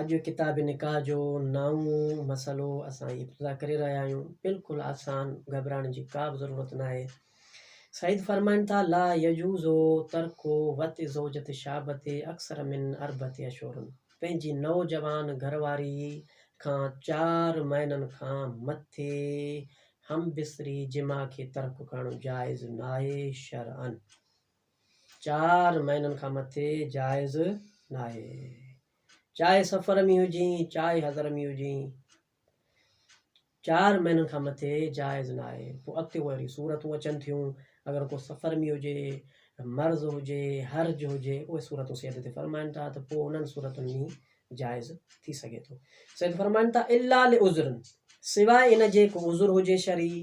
اڄ ڪتاب نڪاح جو نائون مسئلو اسان هي ابتدا ڪري رهيا آهيون بلڪل آسان گهٻرائڻ جي ڪا به ضرورت ناهي سيد فرمائن ٿا لا يجوز ترڪ وت زوجت شابت اڪثر من اربعت اشهر پنهنجي نوجوان گهرواري کان چار مهينن کان مٿي همبستري جماع کي ترڪ ڪرڻ جائز ناهي شرعاً چار مهينن کان مٿي جائز ناهي چاهي سفر ۾ هجين چاهي حضر ۾ هجين چار مهينن کان مٿي جائز ناهي پوء اڳتي اهي اهڙيون صورتون اچن ٿيون اگر ڪو سفر ۾ هجي مرض هجي حرج هجي اهي صورتون سيد تي فرمائن ٿا ته پوء انهن صورتن ۾ جائز ٿي سگهي ٿو سيد فرمائن ٿا الا لعذرن سواء ان جي ڪو عذر هجي شرعي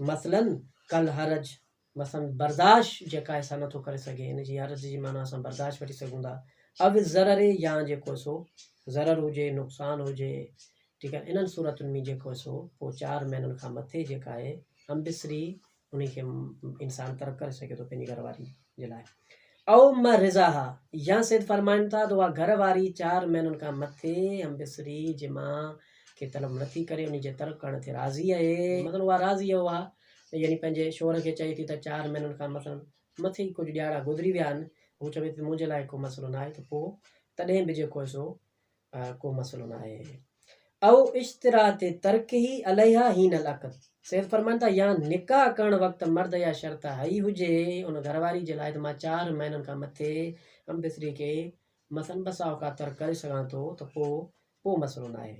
مثلاً ڪل حرج، مثلاً برداشت، جيڪا انسان نه ٿو ڪري سگهي، ان جي حرج جي معنيٰ اسان برداشت وٺي سگهون ٿا، او الضرر يا جيڪو سو ضرر هجي، نقصان هجي، ٺيڪ آهي، انهن صورتن ۾ جيڪو سو پوء چار مهينن کان مٿي جيڪا آهي امبسري انهي کي انسان ترڪ ڪري سگهي ٿو پنهنجي گهر واري. جي لاء او م رضا ها يا سيد فرمائن ٿا ته اها گهر واري چار مهينن کان مٿي م بصري جي ماء کي طلب نه ٿي ڪري انهي جي ترڪ ڪرڻ تي راضي اهي مثلا اها راضي اهي اها يعني پنهنجي شوهر کي چئي ٿي ته چار مهينن کان مثلا مٿي ئي ڪجهه ڏياڙا گذري ويا آهن هو چوي ٿي ته منهنجي لاء ڪو مسئلو نه آهي ته پوء تڏهن به جيڪو آهي سو ڪو مسئلو نه آهي. او اشتراط ترکه عليها حين العقد، سيد فرمائن ٿا، يا نڪاح ڪرڻ وقت مرد اها شرط هئي هجي ان گهر واري جي لاء ته مان چار مهينن کان مٿي هم بستري کي مثلاً ٻه سا اوقات ترڪ ڪري سگهان ٿو ته پوء ڪو مسئلو نه آهي.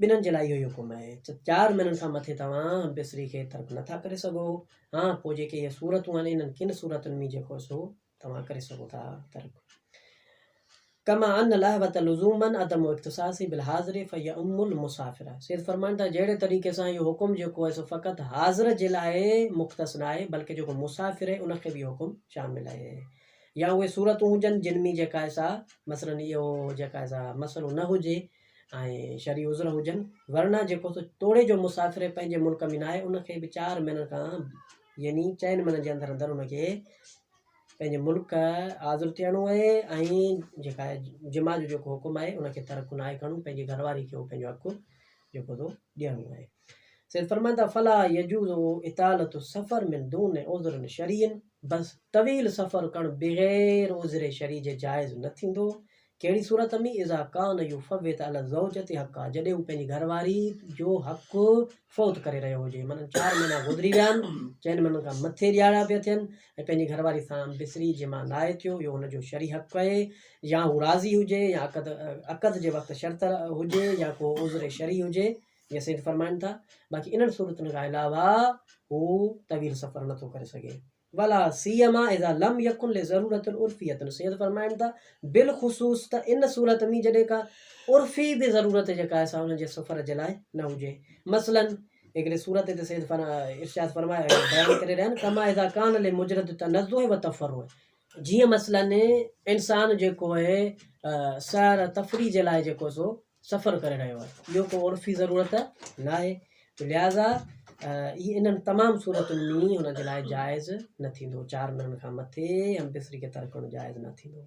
ٻنھن جي لاء اھو ئي حڪم آھي تھ چار مھينن کان مٿي توھان بصري کي ترڪ نٿا ڪري سگھو، ھا پوء جيڪي اھي صورتون آھن انھن ڪن صورتن ۾ جيڪو سو توھان ڪري سگھو ٿا ترڪ. ڪما ان الاحبة لزوما عدم اختصاص بالحاضر فيعم المسافر، سيد فرمائن ٿا جھڙي طريقي سان اھو حڪم جيڪو آھي سو فقط حاضر جي لاء مختص ناھي بلڪ جيڪو مسافر آھي ان کي بھ اھو حڪم شامل آھي. يا اهي صورتون هجن جن ۾ جيڪا سا مثلاً اهو جيڪا سا مسئلو نه هجي ۽ شرعي عذر هجن ورنه جيڪو سو توڙي جو مسافر پنهنجي ملڪ ۾ ناهي ان کي به چار مهينن کان يعني چئن مهينن جي اندر اندر ان کي پنهنجي ملڪ حاضر ٿيڻو آهي ۽ جيڪا جمع جو جيڪو حڪم آهي ان کي ترڪ ناهي ڪرڻو پنهنجي گهر واري کي هو پنهنجو حق جيڪو تو ڏيڻو آهي. سيد فرمائن ٿا فلا يجوز اطالة السفر من دون عذر شرعي بس طويل سفر ڪرڻ بغير عذر شرعي جي جائز نه ٿيندو ڪهڙي صورت ۾ اذا ڪان يفوت علي الزوجة حقها جڏهن هو پنهنجي گهر واري جو حق فوت ڪري رهيو هجي معنيٰ چار مهينا گذري ويا آهن چئن مهينن کان مٿي ڏيارا پيا ٿين ۽ پنهنجي گهر واري سان بصري جي مان ناهي ٿيو، اهو هن جو شرعي حق آهي، يا هو راضي هجي يا عقد عقد جي وقت شرط هجي يا ڪو عذر شرعي هجي، جيئن سيد فرمائن ٿا، باقي انهن صورتن کان علاوه هو طويل سفر نٿو ڪري سگهي. ولا سيما اذا لم يڪن لضرورت عرفيه سيد فرمائن ٿا، بالخصوص ته ان صورت ۾ جڏهن ڪا عرفي به ضرورت جيڪا آهي سا ان جي سفر جي لاء نه هجي، مثلاً هڪڙي سورت هتي سيد ارشاد فرمايو آهي جو بيان ڪري رهيا آهن ڪما اذا کان لمجرد تنزه و تفرع جيئن مثلاً انسان جيڪو آهي سير تفريح جي لاء جيڪو سو سفر ڪري رهيو آهي اهو ڪو عرفي ضرورت ناهي تو لهٰذا هي انهن تمام صورتن ۾ هن جي لاء جائز نه ٿيندو چار مهينن کان مٿي هم بستري کي ترڪڻ جائز نه ٿيندو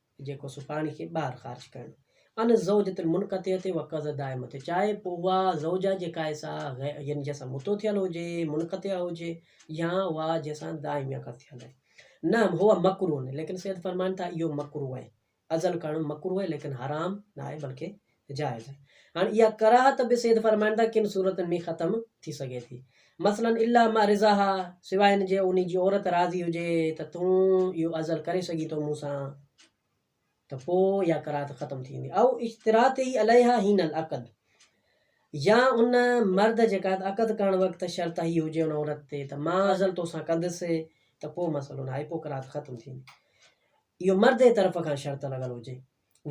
جيڪو سو پاڻي کي ٻاهر خارج ڪرڻ ان زوجة المنقطعة و قض الدائمة تي چاهي پوء اها زوجه جيڪا آهي سا يعني جنهن سان متو ٿيل هجي منقطع هجي يا اها جنهن سان دائم يا قض ٿيل آهي نه هو مڪروه نه ليڪن سيد فرمائن ٿا اهو مڪروه آهي ازل ڪرڻ مڪروه آهي ليڪن حرام نه آهي بلڪه جائز آهي. هاڻ اها ڪراهت به سيد فرمائن ٿا ڪن صورتن ۾ ختم ٿي سگهي ٿي. مثلاً الا مع رضاها سواء ان جي انهي جي عورت راضي هجي ته تون اهو ازل ڪري سگهين ٿو مون سان ته پوء اها ڪراهت ختم ٿي ويندي. او اشتراطه عليها حين العقد يا ان مرد جي قائد عقد ڪرڻ وقت شرط هي هجي ان عورت تي ته مان ازل تو سان ڪندس ته پوء مسئلو ناهي پوء ڪراهت ختم ٿي ويندي. اهو مرد جي طرف کان شرط لڳل هجي.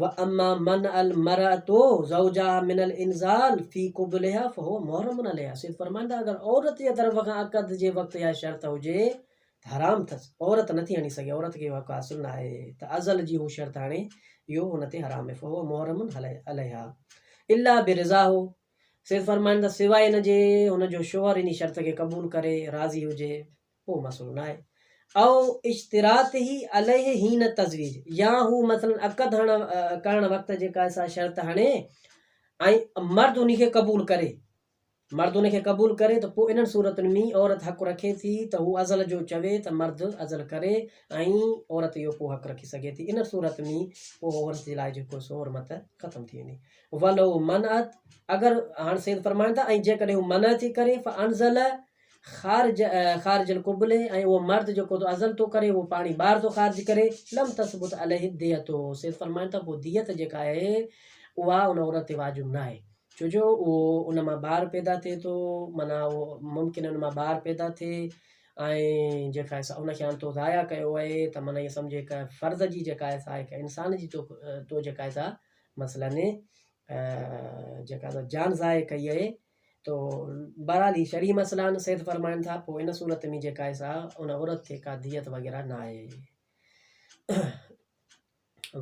واما منع المرءة زوجها من الانزال في قبلها فهو محرم عليها سيد فرمائن ٿا اگر عورت جي طرف کان عقد جي وقت اها شرط هجي ته حرام اٿس عورت نٿي هڻي سگهي عورت کي اهو حق حاصل نه آهي ته ازل جي هو شرط هڻي اهو هن تي حرام آهي فهو محرم عليها الا برضاه سيد فرمائن ٿا سواء ان جي هن جو شوهر انهي شرط کي قبول ڪري راضي هجي اهو مسئلو ناهي. او اشتراطه عليه حين تزويج يا هو مثلا عقد هڻڻ ڪرڻ وقت جيڪا ايسا شرط هڻي ۽ مرد انهي کي قبول ڪري مرد انهي کي قبول ڪري ته پوء انهن صورتن ۾ عورت حق رکي ٿي ته هو ازل جو چوي ته مرد ازل ڪري ۽ عورت اهو پوء حق رکي سگهي ٿي ان صورت ۾ پوء عورت جي لاء جيڪو سو حرمت ختم ٿي ويندي ولو منعت اگر هاڻ سيد فرمائن ٿا ۽ جيڪڏهن هو منع ٿي ڪري فانزل خارج خارج القبلة ۽ اهو مرد جيڪو تو ازل ٿو ڪري اهو پاڻي ٻار ٿو خارج ڪري لم تثبت عليه الدية سيد فرمائن ٿا پوء ديت جيڪا آهي اها ان عورت تي واجب ناهي ڇو جو اهو ان مان ٻار پيدا ٿئي ٿو معنيٰ اهو ممڪن ان مان ٻار پيدا ٿئي ۽ جيڪا آهي سا ان کي هاڻ تو ضايع ڪيو آهي ته معنيٰ ائين سمجهه هڪ فرد جي جيڪا آهي سا هڪ انسان جي تو تو جيڪا آهي سا مثلاً جيڪا جان ضايع ڪئي آهي تو بھرحال ھي شرعي مسئلا آھن سيد فرمائن ٿا پوء ان صورت ۾ جيڪا آھي سا ان عورت کي ڪا ديت وغيره ناھي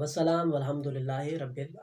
وسلام والحمد لله رب العالمين.